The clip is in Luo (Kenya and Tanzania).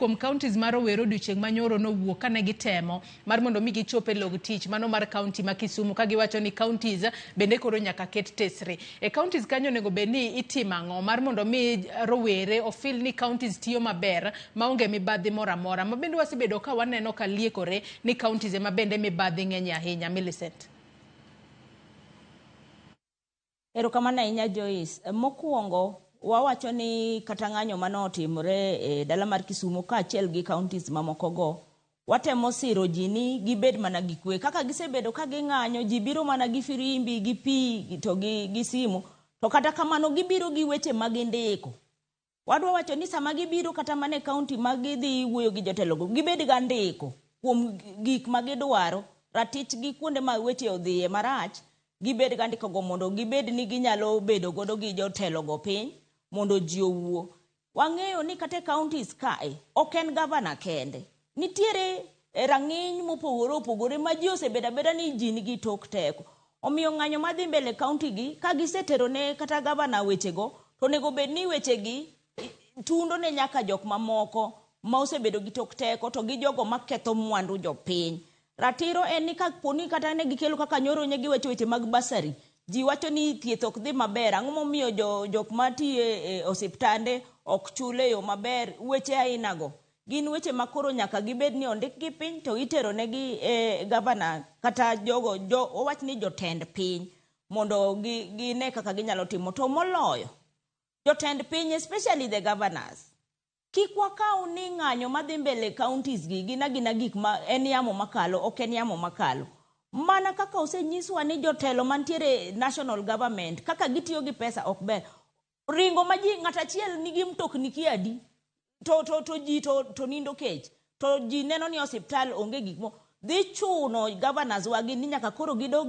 kuom counties ma rowere odiochieng' manyoro nowuok kane gitemo mar mondo mi gichop e log tich mano mar county ma Kisumu ka giwacho ni counties bende koro nyaka ket tesre e counties kanyo onego bed ni itimo ang'o mar mondo mi rowere ofil ni counties tiyo maber maonge mibadhi moro amora ma bende wasebedo ka waneno ka liekore ni counties ema bende mibadhi ng'enye ahinya Millicent Erokamano ahinya Joyce. Mokuongo wawacho ni kata ng'anyo mane otimore e dala mar Kisumo kaachiel gi counties mamoko go, watemo siro ji ni gibed mana gi kwe. Kaka gisebedo ka ging'anyo, ji biro mana gi firimbi, gi pi to gi simu. To kata kamano gibiro gi weche ma gindiko. Wadwa wacho ni sama gibiro kata mana e kaunti ma gidhi wuoyo gi jotelogo, gibed ga ndiko kuom gik ma gidwaro, ratich gi kuonde ma weche odhiye marach, gibed ga ndikogo mondo gibed ni ginyalo bedo godo gi jotelogo piny mondo ji owuo. Wang'eyo ni kata e counties kae, ok en gavana kende, Nitiere e rang'iny mopogore opogore ma ji osebedo abeda ni ji nigi tok teko. Omiyo ng'anyo madhi mbele kaunti gi ka gisetero ne kata gavana wechego to onego bed ni wechegi tundo ne nyaka jok mamoko ma osebedo gi tok teko to gi jogo maketho mwandu jopiny. Ratiro en ni ka poni kata ne gikelo kaka nyoro ne giwacho weche mag basari, ji wacho ni thieth ok dhi maber, ang'o momiyo jo, jok matiyo e osiptande ok chul e yo maber, weche ainago. Gin weche ma koro nyaka gibed ni ondikgi piny to iteronegi e gavana kata jogo jo, owach ni jotend piny mondo gi, gine kaka ginyalo timo. To moloyo, jotend piny especially the governors, kik wakaw ni ng'anyo madhi mbele counties gi gin agina gik ma en yamo makalo, ok en yamo makalo. Mana kaka osenyiswa ni jotelo mantiere e national government kaka gitiyo gi pesa ok ber, ringo ma ji ng'at achiel nigi mtokni ki adi to, to, to ji to, to nindo kech to ji neno ni osiptal onge gik mo dhi chuno governors wagi ni nyaka koro gidog